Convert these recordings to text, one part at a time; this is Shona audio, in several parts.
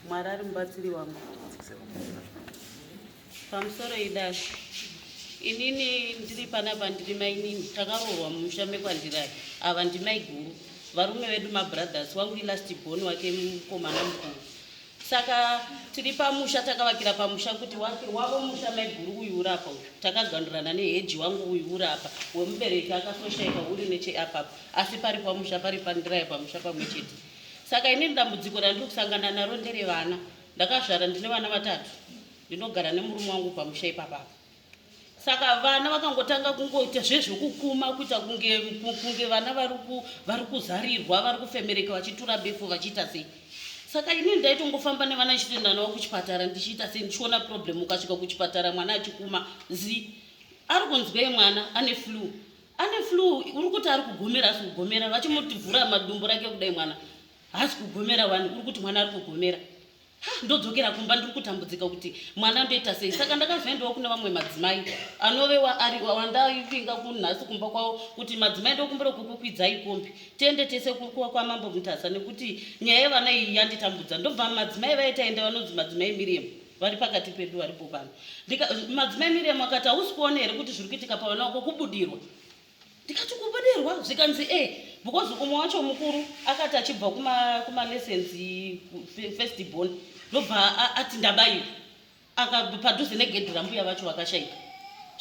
Mwari ari mubatsiri wangu. Pamusoro idasi inini ndiri panapa ndiri mainini takaroorwa mumusha mekwandirai ava ndimaiguru varume vedu mabrothers wangu ilast born wake mukomana mukuru saka tiri pamusha takavakira pamusha kuti wake wavo musha maiguru uyu urapa uyu takagandurana neheji wangu uyu urapa wemubereki akasoshaika uri necheapapa asi pari pamusha pari pandiraye pamusha pamwe chete Saka inini dambudziko randiri kusangana naro ndere vana. Ndakazvara ndine vana vatatu. Ndinogara nemurume wangu pamusha ipapa. Saka vana vakangotanga kungoita zvezvekukuma kuita kunge kunge vana vari ku vari kuzarirwa vari kufemereka vachitura befu vachiita sei. Saka inini ndaitongofamba nevana ndichitoenda navo kuchipatara ndichiita sei ndichiona problem ukasvika kuchipatara mwana achikuma zi ari kunzwei mwana ane flue ane flu uri kuti ari kugomera hasi kugomera vachimutivhura madumbu rake kudai mwana hasi kugomera wani uri kuti mwana ari kugomera ndodzokera kumba ndiri kutambudzika kuti mwana ndoita sei saka ndakazoendawo kune vamwe madzimai anove wandaivinga kunhasi kumba kwavo kuti madzimai ndokumbira kukukwidzai kombi tiende tese kwamambo mutasa nekuti nyaya yevana iyi yanditambudza ndobva madzimai vaitaenda vanonzi madzimai miriam vari pakati pedu varipo pano madzimai miriam akati hausi kuona here kuti zviri kuitika pavana wako kubudirwa ndikati kubudirwa zvikanzi e because umwe wacho mukuru akati achibva kumalessons first born ndobva ati ndabaiwa padhuze negedhi rambuya vacho vakashaika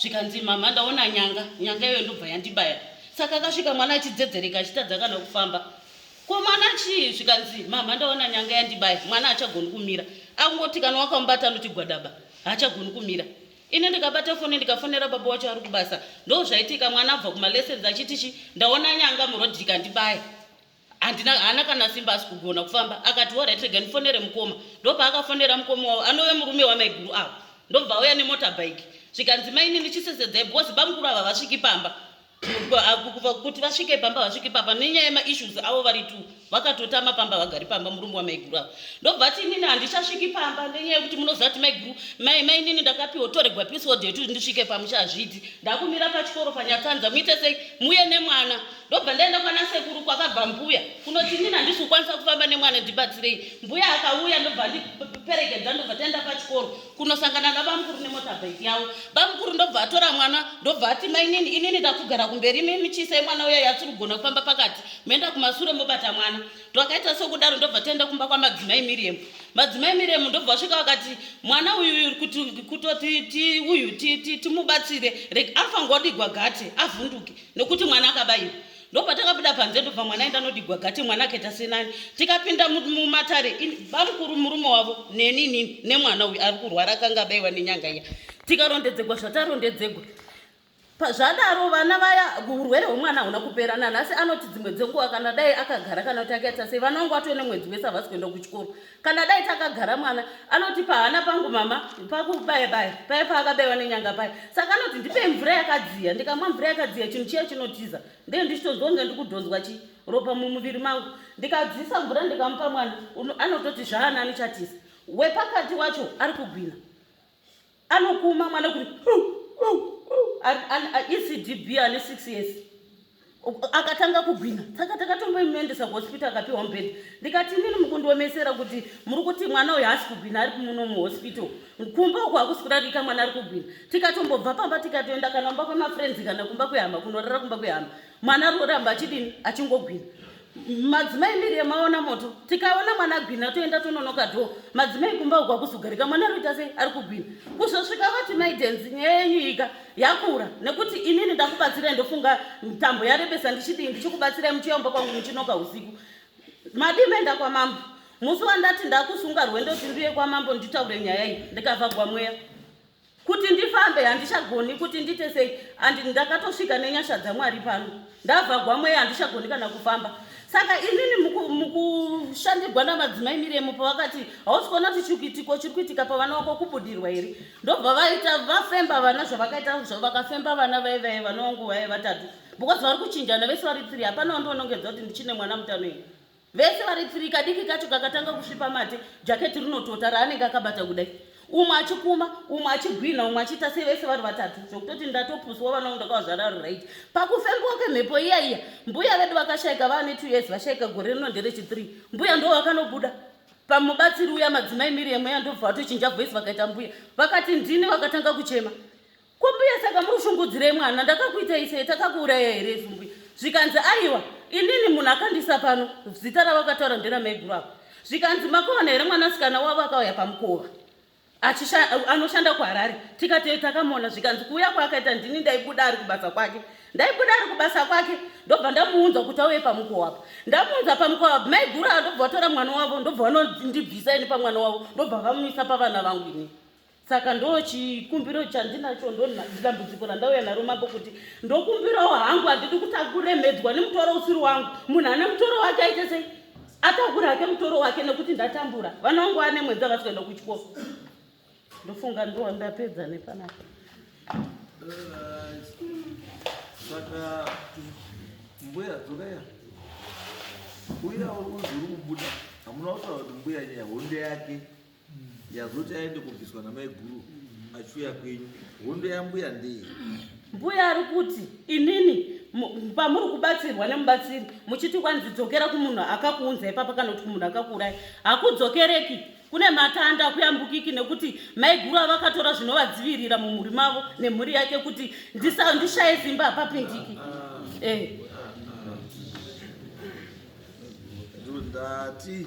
zvikanzi mama ndaona nyanga nyanga iyoyo ndobva yandibaya saka akasvika mwana achidzedzereka achitadza kana kufamba ko mwana chii zvikanzi mama ndaona nyanga yandibaya mwana achagoni kumira akungoti kana wakamubata anochigwadaba haachagoni kumira ini ndikabata foni ndikafonera baba wacho ari kubasa ndo zvaitika mwana abva kumalessons achiti chi ndaona nyanga murodhi ikandibaya handina haana kana simba asi kugona kufamba akati orit rega ndifonere mukoma ndopaakafonera mukoma wavo anove murume wamaiguru avo ndobva auya nemotorbike zvikanzi mainini chisesedzai because bamukuru ava vasviki pamba kubva kuti vasvike pamba vasvike pamba nenyaya yemaissues avo vari tu vakatotama pamba vagari pamba murume wamaiguru avo ndobva ti inini handichasviki pamba nenyaya yekuti munoziva kuti maiguru mai mai inini ndakapiwa toregwa episode yekuti ndisvike pamusha hazviiti ndakumira pachikoro panyatsanza muite sei muye nemwana ndobva ndaenda kwana sekuru kwakabva mbuya kunoti inini handisi kukwanisa kufamba nemwana ndibatsirei mbuya akauya ndobva ndiperekedza ndobva taenda pachikoro kunosangana nabamukuru nemotabhaiki yavo bamukuru ndobva atora mwana ndobva ati mainini inini ndakugara kumberi imimi chiisai mwana uya yasiri kugona kufamba pakati moenda kumasure mobata mwana twakaita sokudaro ndobva taenda kumba kwamadzimai miriam madzimai miriam ndobva vasvika vakati mwana uyu kutoti uyu timubatsire reg afangodigwa gate avhunduke nekuti mwana akabayiwa ndopatakabuda panze ndobva mwana aenda nodigwa gate mwana akaita senani tikapinda mumatare bamukuru murume wavo neni nini nemwana uyu ari kurwara akanga abaiwa nenyanga iya tikarondedzegwa zvatarondedzegwa zvadaro vana vaya urwere hwemwana hauna kupera nanhasi anoti dzimwe dzenguva kana dai akagara kana kuti akaita sei vana vangu atone mwedzi wese havasi kuenda kuchikoro kana dai takagara mwana anoti pahana pangu mama pakubaya baya paye paakabewa nenyanga paye saka anoti ndipei mvura yakadziya ndikamwa mvura yakadziya chinhu chiya chinotiza ndee ndichitonzwa kunge ndikudhonzwa chi ropa mumuviri mangu ndikadzisa mvura ndikamupa mwana anototi zvaanani chatiza wepakati wacho ari kugwina anokuma mwana kuti ecdb ane 6 years akatanga kugwina saka takatombomuendesa kuhospital akapiwa mubhedha ndikati inini mukundiomesera kuti muri kuti mwana uyu haasi kugwina ari kumuno muhospital kumba uku hakusi kurarika mwana ari kugwina tikatombobva pamba tikatoenda kana kumba kwemafriends kana kumba kwehama kunorara kumba kwehama mwana ari kuramba achidini achingogwina madzimai miri yemaona moto tikaona mwana gwina toenda tononoka dho madzimai kumba uku akuzogarika mwana arikuita sei ari kugwina kuzosvika vati maidenzi nyaya yenyu ika yakura nekuti inini ndakubatsirai ndofunga mitambo yarebesa ndichidii ndichikubatsirai muchiyamba kwangu muchinoka usiku madii maenda kwamambo musi wandati ndakusunga rwendo tinduye kwamambo nditaure nyaya iyi ndikavagwa mweya kuti ndifambe handichagoni kuti ndite sei and ndakatosvika nenyasha dzamwari pano ndavhagwa mweya handichagoni kana kufamba saka inini mukushandirwa namadzimai miremo pavakati hausi kuona kuti chikuitiko chiri kuitika pavana vako kubudirwa here ndobva vaita vafemba vana zvavakaita zvavo vakafemba vana vaye vaye vana vangu vaye vatatu because vari kuchinjana vese vari tiri hapana wandionongedza kuti ndichine mwana mutano here vese vari three kadiki kacho kakatanga kusvipa mate jaketi rinotota raanenge akabata kudai umwe achikuma umwe achigwinha umwe achiita sei vese vari vatatu zvokutoti ndatopuswa vana vangu ndakavazvara ri right pakufembiwa kwemhepo iya iya mbuya vedu vakashaika vava ne two years vashaika gore rino ndere chithree mbuya ndo vakanobuda pamubatsiri uya madzimai miriam uya ndobva vatochinja voice vakaita mbuya vakati ndini vakatanga kuchema Kwambuya saka murushungudzirei mwana ndakakuita isei takakuuraya here isu mbuya zvikanzi aiwa inini munhu akandisa pano zita ravakataura ndera maiguru avo zvikanzi makovana here mwanasikana wavo akauya pamukova anoshanda kuharare tikati takamona zvikanzi kuuya kwaakaita ndini ndaibuda ari kubasa kwake ndaibuda ari kubasa kwake ndobva ndamuunza kuti auye pamukova apo ndamuunza pamukova apo maiguru avo ndobva vatora mwana wavo ndobva vanondibvisa ini pamwana wavo ndobva vamumisa pavana vangu inii saka ndo chikumbiro chandinacho ndodambudziko randauya naro mambo kuti ndokumbirawo hangu handidi kuti akuremedzwa nemutoro usiri wangu munhu ane mutoro wake aite sei atakure hake mutoro wake nekuti ndatambura vana vangu vane mwedzi havasi kuenda kuchikoro ndofunga ndo ndapedza nepanapa saka mbuya dzokeya uya uzi uri kubuda hamuna kutaura kuti mbuya nyaya honde yake yazoti aende kubviswa namaiguru achiuya kwenyu hondo yambuya ndeye mbuya ari kuti inini pamuri kubatsirwa nemubatsiri muchiti kwanzi dzokera kumunhu akakuunza ipapa kana kuti kumunhu akakuurai hakudzokereki kune matanda akuyambukiki nekuti maiguru avakatora zvinovadzivirira mumhuri mavo nemhuri yake kuti ndishaye simba hapapindiki eh. ndati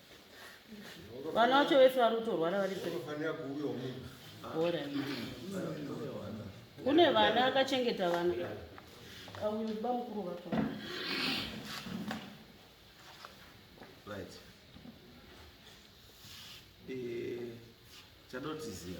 vana vacho vese vari kutorwara vari bora kune vana akachengeta vana auba mukuru vacho right eh chadotizia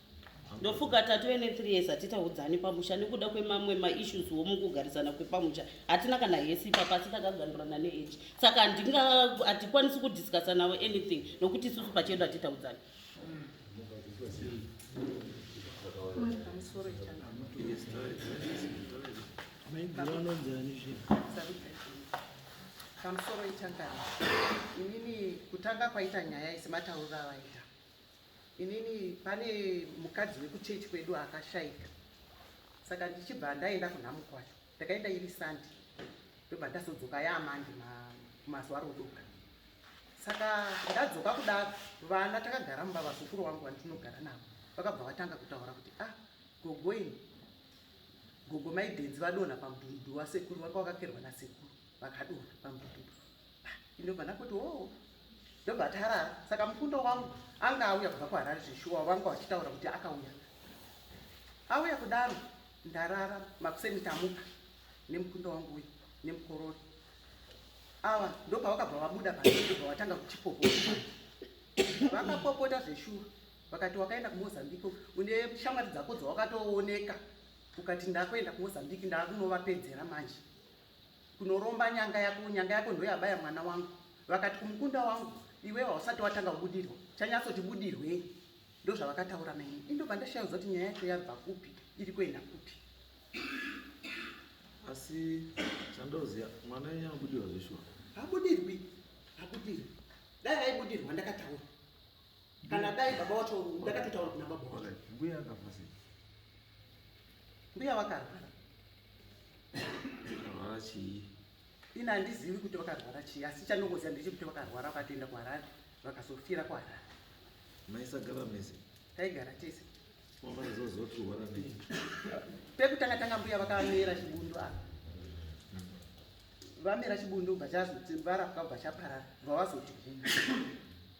ndofuka tatove ne3 years hatitaudzani pamusha nekuda kwemamwe maissues wo mukugarisana kwepamusha hatina kana hesi ipa pasi takagandurana neage saka hatikwanisi kudiscussa navo anything nokuti isusu pachedu hatitaudzani pamusoro itangani inini kutanga kwaita nyaya isi matauriro avaita Inini pane mukadzi wekuchechi kwedu akashaika saka ndichibva ndaenda kunhamukwasha ndakaenda iri sandi ndobva ndazodzoka yaamandi mazuva rodoka saka ndadzoka kudaro vana takagara mumba vazukuru wangu vandinogara navo vakabva vatanga kutaura kuti ah gogo ini gogo maidenzi vadonha pamudhudhu wasekuru vanga vakakerwa nasekuru vakadonha pamudhudhu Ndobva ndakoti oo ndobva tarara saka mufundo wangu anga auya kubva kuharare zveshuwa wavanga wachitaura kuti akauya auya kudaro ndarara makuseni tamuka nemukundo wangu uyu nemukorori ava ndobva vakabva vabuda paobva vatanga kuchipopota vakapopota zveshuwa vakati wakaenda kumozambique une shamwari dzako dzawakatooneka ukati ndakuenda kumozambique ndakunovapedzera manje kunoromba nyanga yako nyanga yako ndoyabaya mwana wangu vakati kumukunda wangu iwe hausati watanga kubudirwa chanyatsoti budirwei ndozvavakataura naini indobva ndashayauza kuti nyaya yacho yabva kupi iri kuenda kupi asi chandoziva mwana wenyu anobudirwa zveshuwa habudirwi habudirwi dai aibudirwa ndakataura kana dai baba wacho ndakatotaura kuna baba wacho mbuya akafa sei mbuya vakarwara akarwara chii ini handizivi kuti vakarwara chii asi chanongoziva ndeche kuti vakarwara vakatoenda kuharare vakazofira kuharare maisagara mese taigara tese makazozotirwara nei pekutanga tanga mbuya vakamera chibundu apa vamera chibundu bva chazoti varapwa bva chaparara bva vazoti guma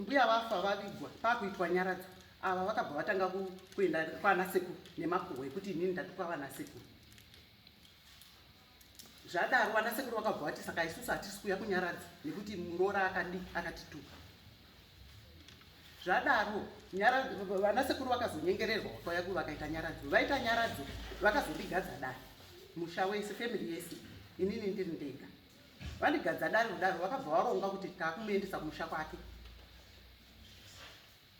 mbuya vafa vavigwa pakuitwa nyaradzo ava vakabva vatanga kuenda kwana sekuru nemakuhwa ekuti inini ndatuka vana sekuru zvadaro vana sekuru vakabva vati saka isusu hatisi kuuya kunyaradza nekuti muroora akadi akatituka zvadaro vana sekuru vakazonyengererwa kwaya ku vakaita nyaradzo vaita nyaradzo vakazondigadza dai musha wese family yese inini ndiri ndega vandigadza dare kudaro vakabva varonga kuti takumuendesa kumusha kwake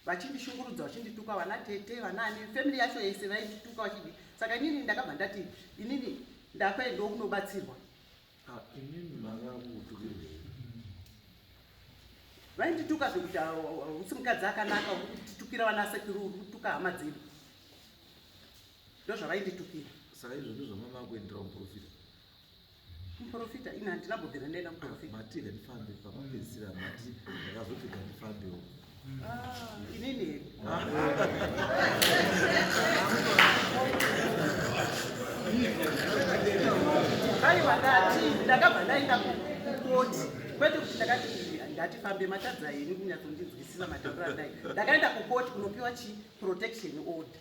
vachindishungurudza vachindituka vana tete vanani family yacho yese vaindituka vachidi saka inini ndakabva ndati inini ndakuendawo kunobatsirwa ah, vaindituka zvekuti ah, ah, usi mukadzi akanaka urikutitukira vana sekuru uri kutuka hama dzedu ndozvavainditukira saka izvo ndozvamama kuendera muprofita Muprofita ini handina bhodhera ndaenda kuprofita. Mati ndifambe pamapedzisira mati ndakazopfika ndifambewo. Ah, inini here? Aiwa ndati ndakabva ndaenda kukoti kwete kuti ndakati ndatifambe matadza henyu kunyatsondinzwisisa matambiro andai ndakaenda kukoti kunopiwa chi protection order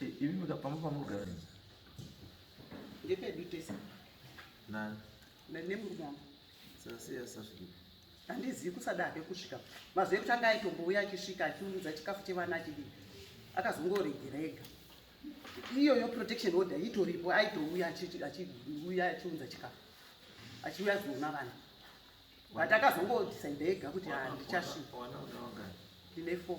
Ivi mika pamba pamurugara izi. Ngepedu tese. Nani? Ndine murugara. Sasi yasasvika. Handizivi kusada hake kusvika. Mazuva ekuti anga aitombouya achisvika achiunza chikafu chevana achidii. Akazongoregera ega. Iyoyo protection order itoripo aitouya achiuya achiunza chikafu. Achiuya kuzoona vana. But akazongodecide ega kuti handichasvika. Wana wana wangani? Ndine four.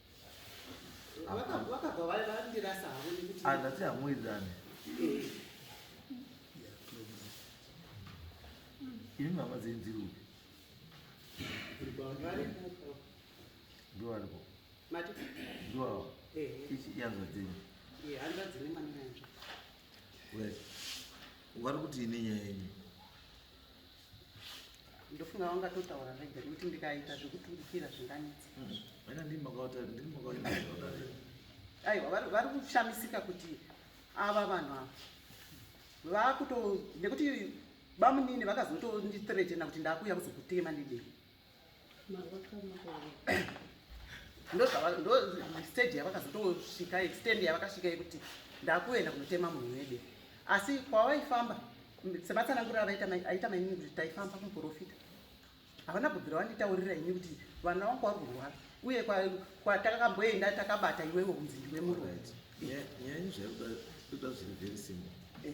vakabva vandirasa havo nekuti ah, ndati hamuwidzane eh. ini mama dzenyu dziri upi ndovaripo ndovavo yanzwa dzenyu vari kuti ine nyaya yenyu ndofunga vangatotaura vega nekuti ndikaita zvekuturikira zvinganetsa aiwa vari kushamisika kuti ava vanhu ava vakuto nekuti bamunini vakazotonditretena kuti ndakuya kuzokutema nedei ndostage yavakazotosvika extend yavakasvika yekuti ndakuenda kunotema munhu wede asi kwawaifamba sematsananguro aita mainini kuti taifamba kumuprofita havana kubvira wanditaurira ini kuti vana wangu wari kurwara uye kwatakamboenda takabata iwewe kunzi ndiwe muroyi nyaya izvi zvaiuda zviri very simple eh.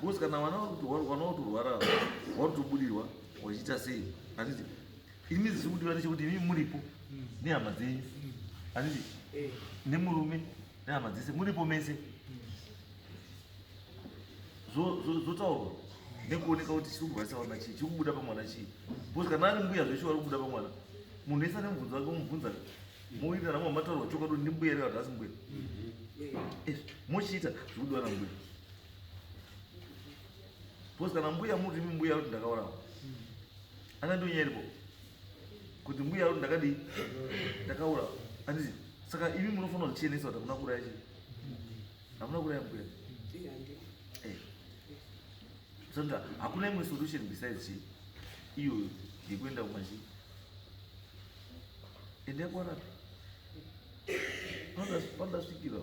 Because kana vana vanotorwara vanotobudirwa vachiita sei handiti ini zisi kudiwa ndechekuti imi muripo nehama dzenyu handiti nemurume nehama dzese muripo mese zvotaurwa nekuoneka kuti chiri kugwazisa vana chii chiri kubuda pamwana chii because kana ari mbuya zveshe vari kubuda pamwana munhu wese ane mubvunzo wake umubvunza Moita ramwe mataurwa chokwadi kuti ndimbuya ere kana asimbuya. Eh, mochiita zvikudiwa nambuya. Because kana mbuya muti imi mbuya kuti ndakaurawa. Ana ndiyo nyaya iripo. Kuti mbuya kuti ndakadii? Ndakaurawa. Anditi saka imi munofanira kuchenesa kuti hakuna kuuraya chii? Hamuna kuuraya mbuya. Eh. Saka hakuna imwe solution besides chii? Iyoyo yekuenda kumachii? Endai kwarapi? Pandasvikira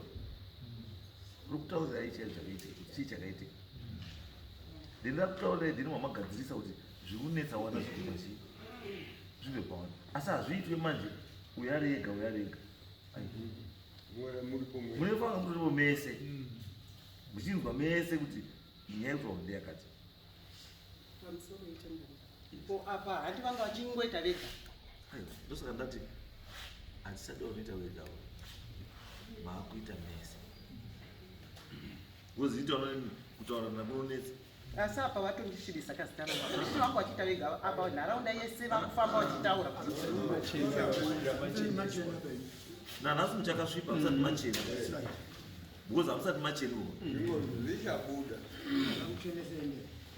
uri kutaurira ichi chakaitika, chii chakaitika? Then ndakutaurira then mamagadzirisa kuti zviri kunetsa wana zviri machii zvive pawana asi hazviitwe manje uyo ari ega uyo ari ega munefanga muripo mese muchinzwa mese kuti nyaya yekutaura ndeyakati pamusoro yetemberi ko apa hati vanga vachingoita vega ndosaka ndati hatisati vanoita vega maakuita mese voziita kutaura nakunonetsa asi apa vatondisvibisa kazita raaisi vangu vachiita vega apa nharaunda yese vakufamba vachitaura nanhasi muchakasvipa musati machena because hamusati machenuwa zvichabuda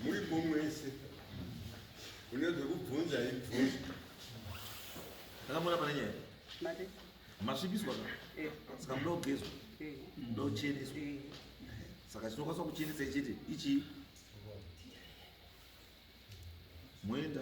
muri momwese une zvekubvunza ibvunza takamona pane nyaya masvibiswa ka eh. saka muda kugezwa eh. muda kucheneswa eh. saka chinokwanisa kuchenesa ichiti ichii moenda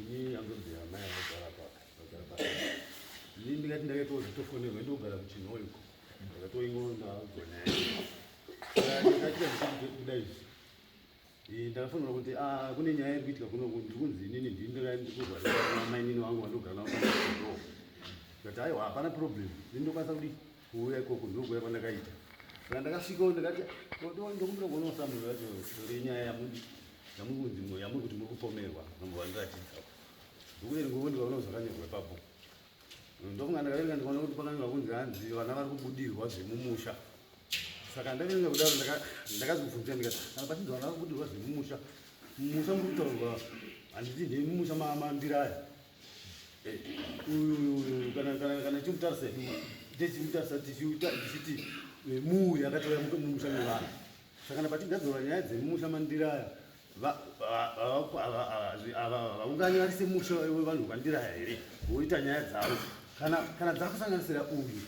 Ndini andodzi amai anogara apa vagara pa ndini ndingati ndakaitawo zvitofonerwa ndogara kuchinho uko ndakatoingoona gona ndakati ndikuda izvi eh, ndakafonera kuti ah, kune nyaya iri kuitika kuno ndiri kunzi inini ndini ndakakurwaa mainini wangu vandogara navo ndikati aiwa hapana problem ndini ndokwanisa kudii kuuya ikoko ndokuya kwandakaita saka ndakasvikawo ndikati ndokumbira kuona usamiro yacho renyaya yamudi yamuri kunzi mwe yamuri kuti muri kupomerwa nomovandiratidza bhuku iri ngokuti vaona zvakanyorwa ipapo ndofunga ndakaverenga ndikaona kuti pakanyorwa kunzi hanzi vana vari kubudirwa zvemumusha saka ndakaverenga kudaro ndakazobvunza ndikati kana pachinzi vana vari kubudirwa zvemumusha mumusha muri kutaurwa handiti ndei mumusha mambira aya kana chimutarisa techimutarisa tichiti muuya akatouya mumusha mevanhu sakana patigadzora nyaya dzemumusha mandiraya havaungani vari semusha wevanhu vandiraya here voita nyaya dzavo kana dzakusanganisira uyu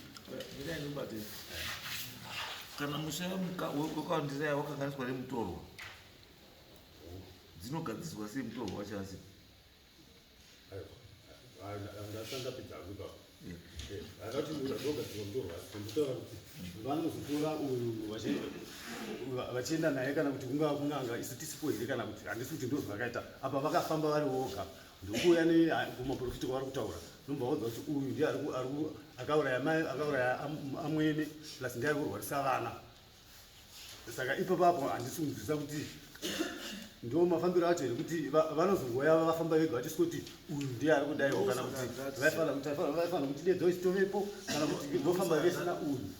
kana musha wekwandiraya wakanganiswa nemutorwa dzinogadziswa sei mutorwa wachasi vanozotora uyu vachienda naye kana kuti kungava kunanga isu tisipo here kana kuti handisi kuti ndozvo vakaita apa vakafamba vari voga ndokuuya nekumaprofiti kwavari kutaura nombaudza kuti uyu ndiye akauraya amwene plus ndiye ari kurwarisa vana saka ipapo apo handisi kunzwisa kuti ndo mafambiro acho here kuti vanozongoya vafamba vega vachisi kuti uyu ndiye ari kudaiwo kana kuti vaifanira kuti dedzo isitovepo kana kuti vofamba vesina uyu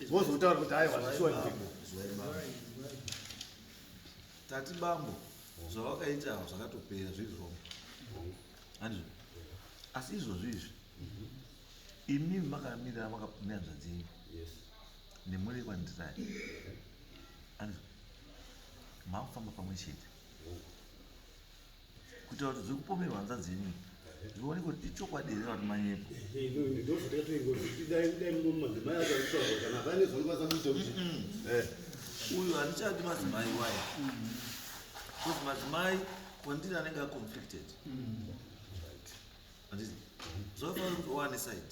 vozotaura kuti aiwa zvishuwa ndiko tati bambo zvavakaita zvakatopera zviri wrong andizvo asi izvozvo izvi imimi makamirira makamira nzvadzenyu nemweya wekwandirai anzi makufamba pamwe chete kuitira kuti zviri kupomerwa hanzvadzi yenyu zvione kuti ichokwadi here vati manyepo uyu handichadi madzimai waye bcause madzimai kwandiri anenge aconflicted anditi zvafanira kuti oane side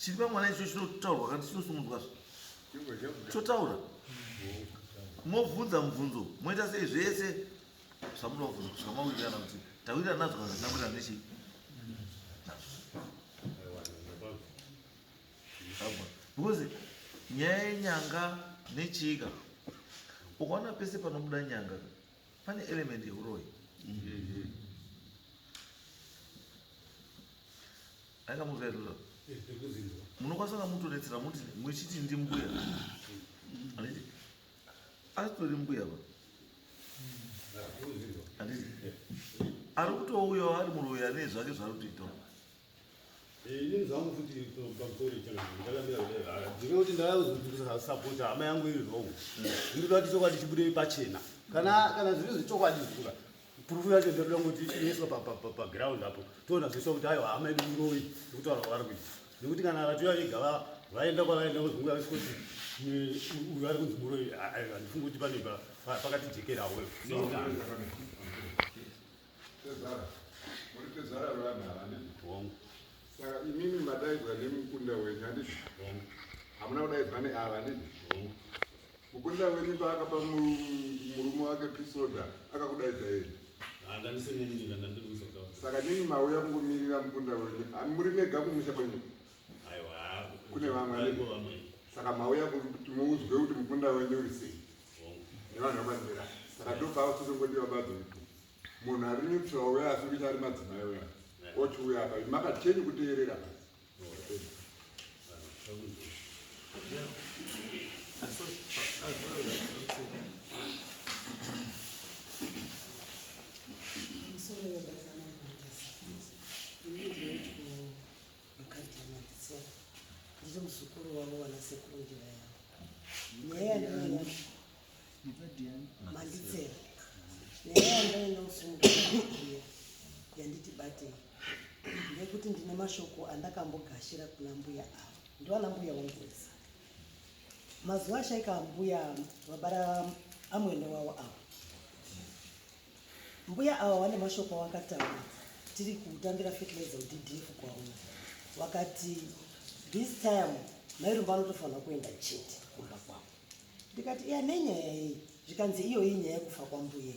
Chiri pamwana icho chinotaurwa kana chinosumudzwa chotaura mobvunza mubvunzo moita sei zvese zvamunoda kubvunza kusvika mawirirana kuti tawirirana nazvo kana zvinamwirirana nechii because nyaya yenyanga nechiika ukaona pese panobuda nyanga pane element yeuroyi akamuvherura munokwanisa kamutoretsera muti muchiti ndi mbuya anditi asitori mbuya ba anditi ari kutouyawo ari muroyi ane zvake zvaari kutoitawo Ini zvangu futi pamusoro chana ndakambira kudai haya. Ndine kuti ndakazozvipisa support hama yangu iri wrong. Ndinoda kuti chokwadi chibude pachena. Kana kana zviri zvechokwadi zvuka. Proof yacho ndoda kuti iiswe pa pa pa ground apo. Toona zvese kuti ayo hama yedu muroyi kutaura kwavari kuti. Nekuti kana vatuya vega va vaenda kwavaenda kuzunguka vese kuti uyu ari kunzi muroyi handifungi kuti pane pakati jekera wewe. Tezvara. Muri tezvara vevanhu ava ndizvo. Hongu. Saka imimi madaidzwa nemukunda wenyu handizvo? Hongu. Hamuna kudaidzwa neava handizvo? Hongu. Mukunda wenyu paakapa murume wake pisoda akakudaidza yeye? Hanga ndisinini ndandiri kuzoka. Saka nini mauya kungomirira mukunda wenyu? Muri mega kumusha kwenyu? kune vamwe saka mauya kuti muudzwe kuti mukunda wenyu uri sei nevanhu vamanzira saka ndopava tozongodiwa badzo munhu ari neutral uya asi kuita ari madzimai uya ochiuya apa makacheni kuteerera ndiri muzukuru wavo wana sekuru njira yavo nyaya yandaina manditsera nyaya yandaina usunguiya yanditi batei ndeyekuti ndine mashoko andakambogashira kuna mbuya avo ndiwana mbuya wambuisa mazuva ashaika mbuya vabara amwene wavo avo Mbuya awa wane mashoko awakataura tiri kutambira fertilizer uddf kwaona wakati this time mairumba anotofanira kuenda chete kumba kwavo ndikati iya nenyaya yei zvikanzi iyoyi nyaya yekufa kwambuye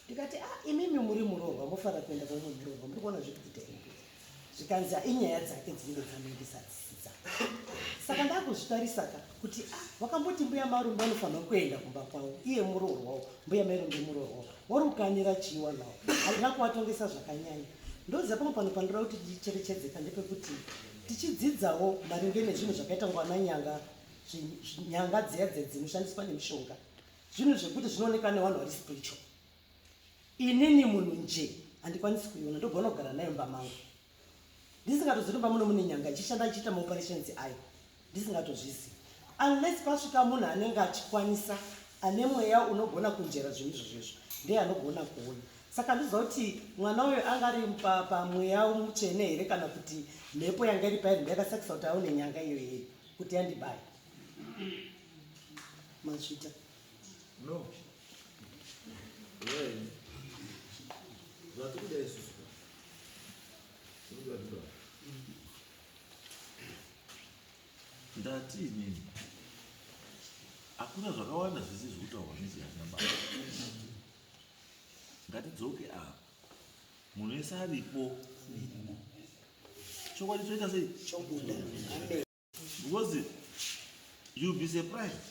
ndikati a ah, imimi muri muroorwa mofanira kuenda kwamwe muroorwa muri kuona zviri kuita imbuya zvikanzi inyaya dzake dzinenge dzanenge dzadzisi dzake saka ndakuzvitarisaka kuti ah, wakamboti mbuya marumbe anofanira kuenda kumba kwavo iye muroorwawo mbuya mairumbe muroorwawo wari ukanira chiiwa nawo handina kuvatongesa zvakanyanya ndoziva pamwe pano panoda kuti ticherechedzeka ndepekuti tichidzidzawo maringe nezvinhu zvakaita ngwana nyanga nyanga dziya dziya dzinoshandiswa nemishonga zvinhu zvekuti zvinooneka nevanhu vari spiritual inini munhu nje handikwanisi kuiona ndogona kugara nayo mba mangu ndisingatozivi mba muno mune nyanga ichishanda ichiita maoperations ayo ndisingatozvizi unless pasvika munhu anenge achikwanisa ane mweya unogona kunjera zvinhu izvo zvezvo ndeye anogona kuona saka ndiziva kuti mwana uyo anga ari pamweya mutsvene here kana kuti mhepo yanga iri pairi ndiyakasakisa kuti aone nyanga iyo yeye kuti yandibaya mazvita no ndati inini hakuna zvakawanda zvese zvekutaurwa nezviyana baba ngatidzoke apa munhu wese aripo chokwadi choita sei because you'll be surprised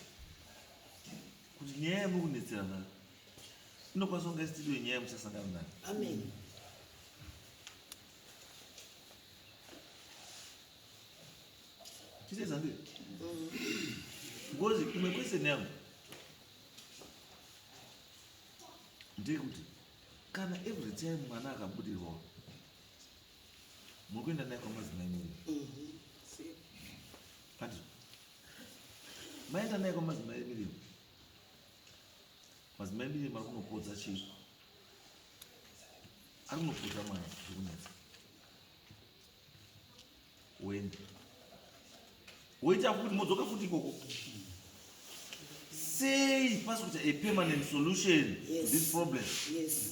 kuti nyaya yamukunetsera nayo inokwanisa kunge isitiriyo nyaya yamusasangana nayo amen chiteza ndiyo because imwe question yangu ndeyekuti kana every time mwana akabudirwa muri kuenda naye kwamadzimai neni kati maenda naye kwamadzimai mirimu madzimai mirimu ari kunopodza chii ari kunopodza mwana zviri kunetsa wende woita futi modzoka futi ikoko sei pasi kuita a permanent solution yes. this problem yes.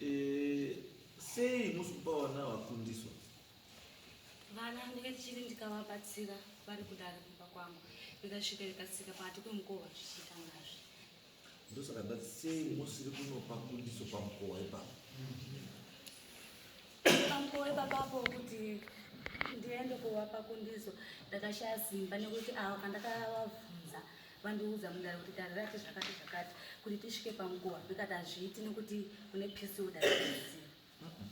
Eh, sei musi kupa vana vakundiswa? Vana ndikachiri ndikavabatsira vari kudare kumba kwangu ndikasvika ndikasika pakati kwemukova zvichiita ngazvi. Ndosaka ndati sei musiri kunopa kundiso pamukova ipapo? Pamukova ipapapo kuti ndiende kuvapa kundiso ndakashaya simba nekuti ava kandakavabvunza vandiudza mudare kuti dare rati zvakati zvakati kuti tisvike panguva ndikati hazviiti nekuti kune pisoda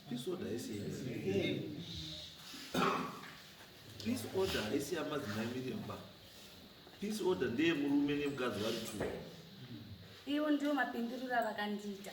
pisoda isi peace order haisi yamadzimai miremba peace order ndeye murume nemukadzi vari two iwo ndiwo mapinduriro avakandiita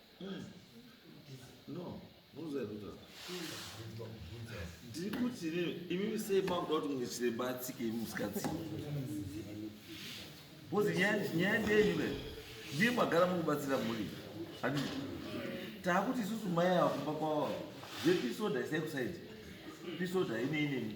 ndiri kuti imimi sei makuda kuti mumwe chiremba atsike imi musikatsike bcause nyaya ndeyenyu ka ndiye magara mukubatsira mhuri adi taakuti isusu mai ava kumba kwavo zvepisoda isai kusaidi pisoda ine inemi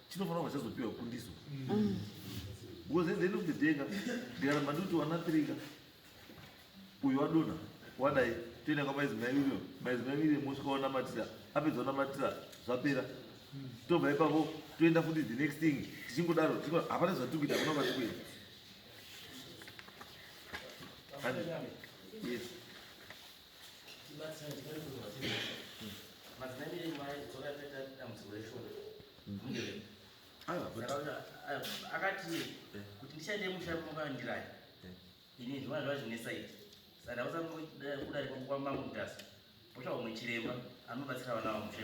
chinofanira kubva chazopiwa kundiso mm. because at the end of the day ka ndikaramba ndikuti wana three ka uyu wadona wadai toenda kwamaizimai uyo maizimai uyo mosvika wanamatira apedza wanamatira zvapera mm. tobva ipapo toenda futi the next thing tichingodaro hapana zvatiri kuita hakuna kwatiri kuenda yes akati kuti ndichaende musha kungandirani ini zvimwana zvava zvinesa izvi saka ndausa kudarika kwamamutasa potsvaga umwe chiremba anobatsira vana vamusha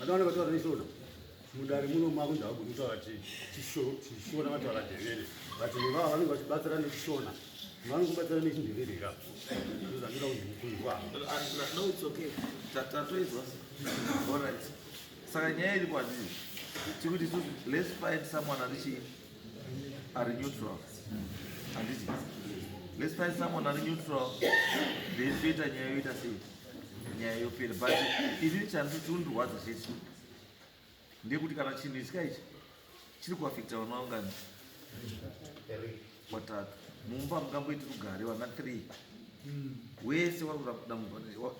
vanenge vataura neisvona mudare muno mavo ndavagoni kutaura chishona vataura dhevere but nevava vanenge vachibatsira nechishona vanenge kubatsira nechindevere ira ndozandira kuzvikunzwa saka nyaya iri kwadii tikuti let's find someone ari chii Are neutral. Handiti? Let's find someone are neutral. Then toita nyaya yoita sei? Nyaya yopera. But ini chanzi chirundirwadza chechi ndekuti kana chinhu ichi kaichi chiri kuafekta vana vangani watatu mumba mungamboiti rugare vana three wese wari kuramudambudziko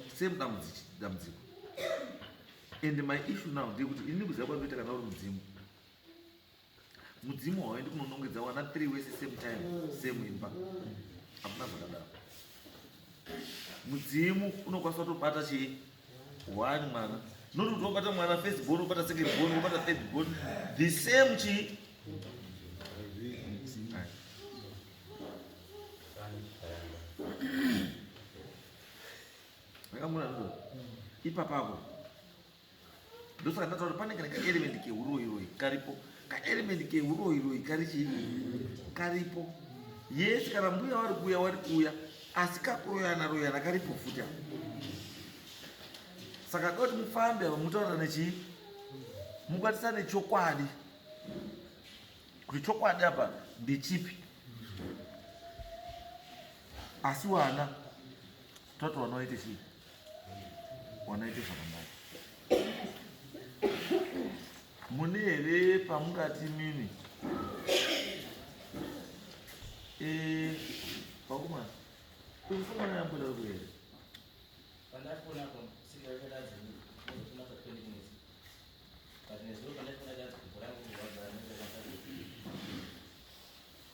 and my issue now ndekuti ini kuziva kwandoita kana uri mudzimu mudzimu hauendi kunonongedza wana three wese same time same imba hakuna zvakadaro mudzimu unokwanisa kutobata chii one mwana noti kuti wabata mwana first born wobata second born wobata third born the same chii akamuna ipapapo ndosaka ndataura pane kana kaelement keuroiroi karipo kaelement keuroiroi kari chii karipo yesi kana mbuya wari kuuya wari kuuya asi kakuroyana royana karipo futi a saka da kuti mufambe ava mutaurira nechii mukwanisa nechokwadi kuti chokwadi apa ndechipi asi wana toti wanoite chii wanaite zvakanaka mune here pamungati mimi eh, vakomana kumfumana yamboda ku here But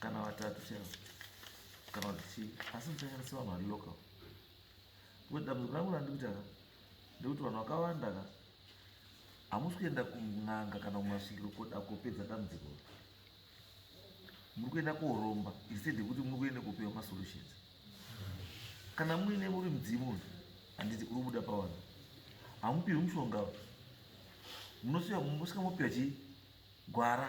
kana vatatu chero kana kuti chii asi muchanyanisa vanhu vari local kuti dambudziko rangu randikuti aka ndekuti vanhu vakawanda ka hamusi kuenda kun'anga kana kumasvikiro koda kopedza dambudziko muri kuenda koromba instead yekuti muri kuenda kopiwa masolutions kana muine muri mudzimu uyu handiti uri kubuda pawana hamupiwi mushonga munosiya mosvika mopiwa chii gwara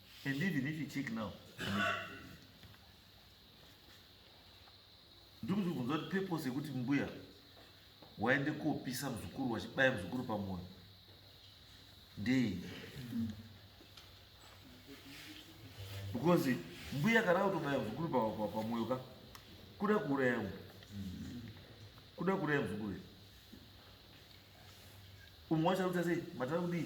And even if you check now, ndikuti kubvunza kuti purpose yekuti mbuya waende kopisa muzukuru wachibaya muzukuru pamoyo ndei? Because mbuya kana kutobaya muzukuru pamoyo ka kuda kuuraya mwe kuda kuuraya muzukuru umwe wacho arikuita sei matara kudii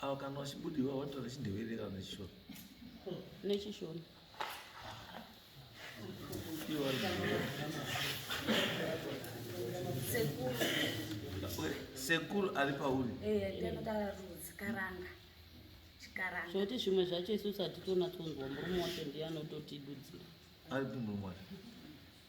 Awa kana wachibudi wa watola chindevere kana chishona. Ne chishona. Iwa. Sekuru. Sekuru ali pauri. Eh, ndino tara rudzi karanga. Chikaranga. Zvoti zvimwe zvacho isu satitona tonzwa murume wacho ndiye anototidudzira. Ari murume wacho.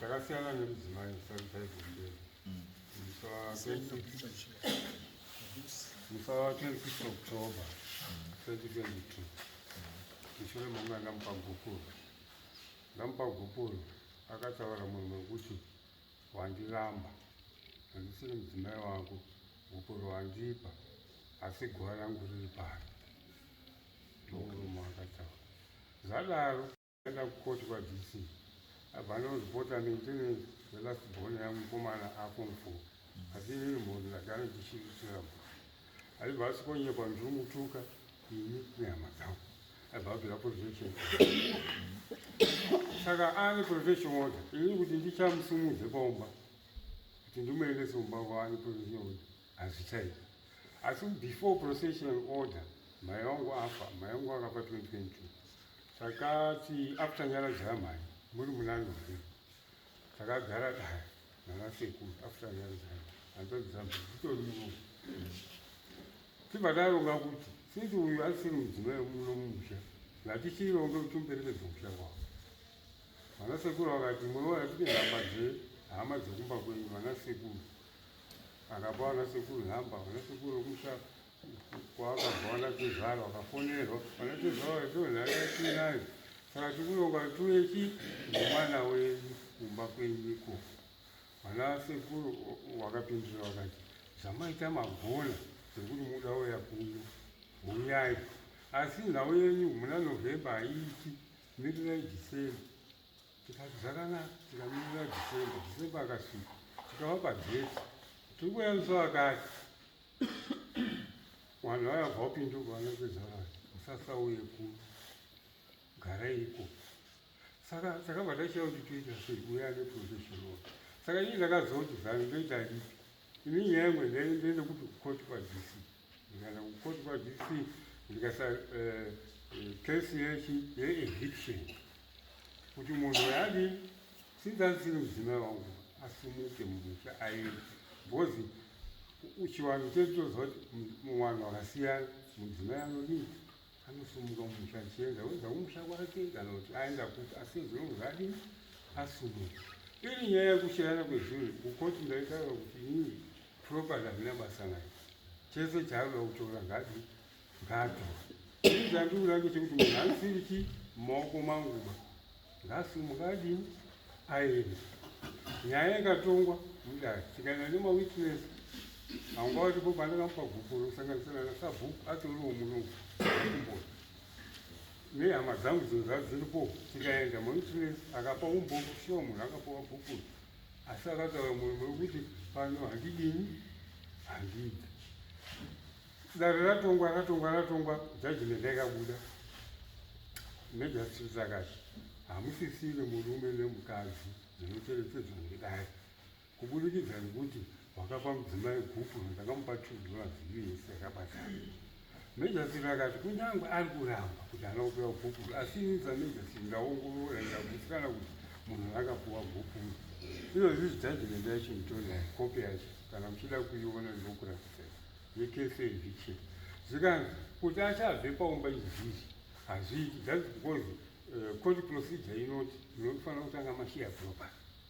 takasiyana nemudzimai sarudzai kumberi musa 26 october 2022 mushure momwe andamupa gupuro ndamupa gupuro akataura munhu wekuti wandiramba handisiri mudzimai wako gupuro wandipa asi guva rangu riri pari Murume akataura zvadaro akaenda kukoti kwaDC abva andonozipota ndine last born yangu mukomana aform four asi inini mhondi ndagara ndichiitira aibva asikonyepa ndichimutuka ini nehama dzangu aibva abvira protection saka ane protection order inini kuti ndichamusimudze paumba kuti ndimuendese kumba kwaane protection order hazvichaita asi before processional order mhai wangu afa mhai wangu akafa 2022 takati after nyaradzo yamhai muri munani here takagara daya nana sekuru after nyaradzo yamhai anzadzamhaiitoriwo tibva taronga kuti since uyu asiri mudzima yemuno mumusha ngatichironge kuti muperekedze musha kwavo vana sekuru vakati murowa yatipinhamba dze hama dzekumba kwenyu vana sekuru akabva ana sekuru nhamba ana sekuru kumusha kwaakabva ana tezvara wakafonerwa ana tezvara vaitozvaatiinayo saka tikuronga tueki nemwana wenyu kumba kwenyiko ana sekuru wakapindura wakati zvamaita magona zvekuti muda uya kuno huyai asi nhau yenyu muna novhemba haiiti mirirai dhisembha tikati zvakanaka tikamirira dhisemba dhisemba akasvika tikava pageti tiri kuyamisa vakati vanhu vaya vabva vapinduka vanokweza vanhu musasauye ku garaiko saka takabva tachia kuti toita sei kuya neprofession wa saka ini ndakazoti zanu ndoita ripi ini nyaya imwe ndaendekuti koti padisi kana kukotwa zvisi ndikasa kesi eh, eh, yechi yeeviction kuti munhu yadi since asiri mudzimai wangu asumuke mumusha aende because chivanhu chedu choziva kuti muvanhu vakasiyana mudzimai anodii anosumuka mumusha achienda oenda kumusha kwake kana kuti aenda kuti asi zvinongo zvadii asumuke iri nyaya yekushayana kwezvinhu kukoti ndaitaura kuti inini Property hazvina basa nayo. Chese chaanoda kutora ngadi ngatora. Ini chandikuda ngechekuti munhu asiri chi maoko manguba ngasumuka adini aende. Nyaya ikatongwa mudare tikaenda nemawitness hanga watipo pandakamupa bhuku rosanganisira nasabhuku atoriwo munoku kumboni nehama dzangu dzinhu dzadziripo tikaenda mawitness akapa umboku sure munhu akapawa bhuku asi akataura mwoyo mwangu kuti pano handidini handidi dare ratongwa ratongwa ratongwa judgment yakabuda nejustice akati hamusisiri murume nemukadzi zvinocherechedzwa nedare kuburikidza nekuti Wakapa mudzimai gupu ndakamupa chudzi vazivi yese yakabatana. Mejasi vakati kunyange ari kuramba kuti ana kupiwa gupu asi ini samejasi ndaongorora ndikagutsikana kuti munhu akapiwa gupu iyo zvizi jajimende yacho nditonayo kopi yacho kana muchida kuiona ndinokuratidzai yekese eviction zvikanzi kuti achabve paumba izvizvi hazviiti thats because uh, court procedure inoti munofanira kutanga mashiya property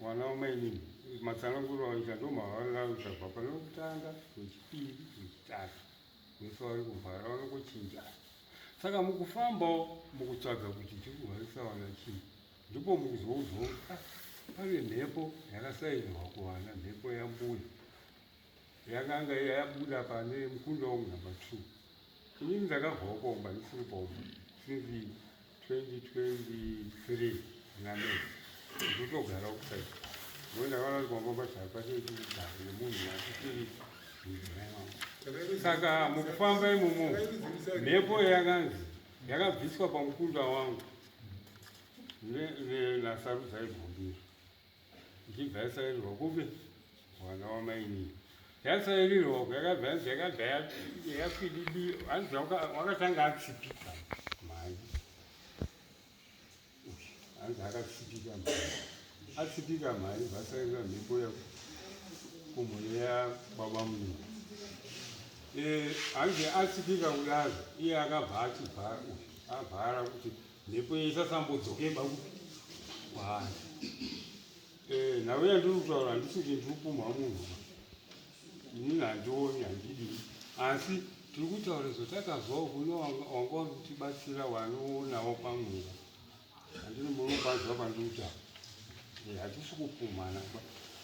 mwana wamainini matsananguro aita ndomavanga uchabva pane wekutanga wechipiri wechitatu vese vari kuvhara vanongochinjana saka mukufambawo mukutsvaga kuti tiri kuvharisa vana chii ndipo mukuzoudzwa kuti ah, pane mhepo yakasainirwa kuvana mhepo yambuya Yakanga yabuda pane mukunda wangu number two. Inini ndakabva ukomba ndisiri pomba since 2023 name ndotogara ukusai ngo ndakaona kuti kwamba pachava pachei chikugara nemunhu asisiri mudzimai wangu saka mukufamba imomo mhepo yakanzi yakabviswa pamukunda wangu nasarudzai bhombiro ichibva yasairirwa kupi mwana wamainini yasairirwa uku yakabva yanzi yakabva yakwididi hanzi wakatanga atsipika mhai hanzi akatsipika mhai atsipika mhai vasairira mhepo ya kumhono yababa munhu eh, hanzi atsipika kudaro iye akabva achibva avhara kuti Mhepo isasambodzoke baku kwaari. Eh, nhau yandiri kutaura handisi kuti ndiri kupumha munhu. Inini handioni handidi. Asi tiri kutaura izvo takazwawo kune wanga wanditibatsira wanoonawo pamweya. Handini munopanzwa pandiri kutaura. Eh, hatisi kupumhana.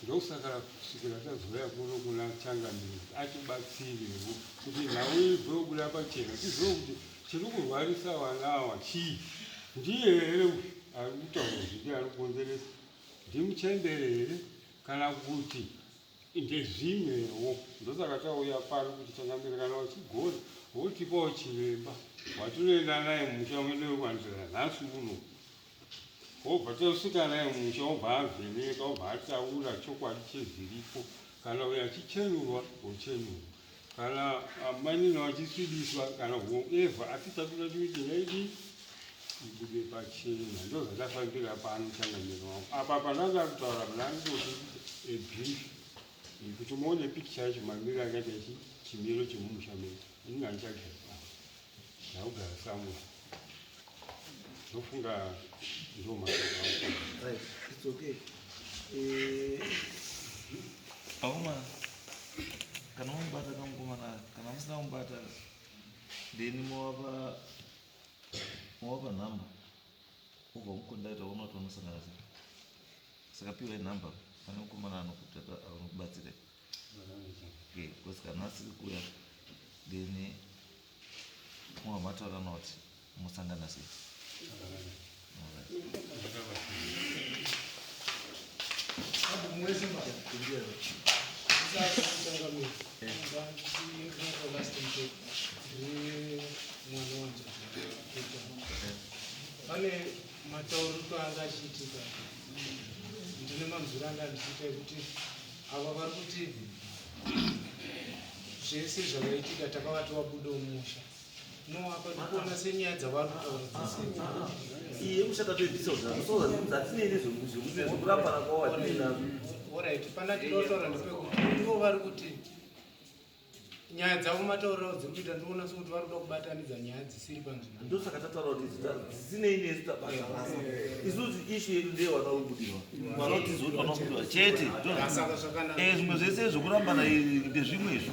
Ndosaka kusvikira tazouya kuno kuna Changamire atibatsirewo kuti nhau ibve kubuda pachena tizive kuti Chiri kurwarisa vana ava chii? Ndiye here uyu ari kutaura zviri ari kukonzeresa? Ndimuchembere here kana kuti ndezvimwewo? Ndosaka tauya pano kuti changamire kana uchigona wotipawo chiremba watinoenda naye mumusha mwedu wekwanzira nhasi uno. wobva tosvika naye musha wobva avheneka wobva ataura chokwadi chezviripo kana uyo achichenurwa wochenurwa kana mainini vachisvibiswa kana whoever asi takuda kuti naidi ibude pachena ndozvatafambira pano changamiro wangu apa pandanga kutaura panandoti ebrief yekuti muone picture yacho mamiro akaita chimiro chemumusha medu ingandichagaipa Naugara samu. Ndofunga ndo mashoko. Right. It's okay. Eh. Pauma kana umbata kamukomana kana musina umbata then mowapa mowapa nhamba ubva mukondaita ona kuti vanosangana sei saka piwai nhamba pane mukomana anokubatsirei because kana asiri kuya then mwa mataura noti musangana sei pane matauriko anga achiitika ndine manzwiro anga ndichiita ekuti Ava vari kuti zvese zvakaitika takavati vabude umusha no apa ndikuona senyaya dzavari kutaura dzese iye mushata toibvisa zvatinei nezvekurapana kwawatinazvo orit pana tinotaura ndepekuti ivo vari kuti nyaya dzavo mataurirawo dziri kuita ndoona sokuti vari kuda kubatanidza nyaya dzisiri panzvimbo ndosaka tataura kuti dzisinei nesu tabatarasa isusu ishu yedu ndeye vana vekubudirwa vana vatizi kuti vana vekubudirwa chete zvimwe zvese zvokurambana ndezvimwe izvo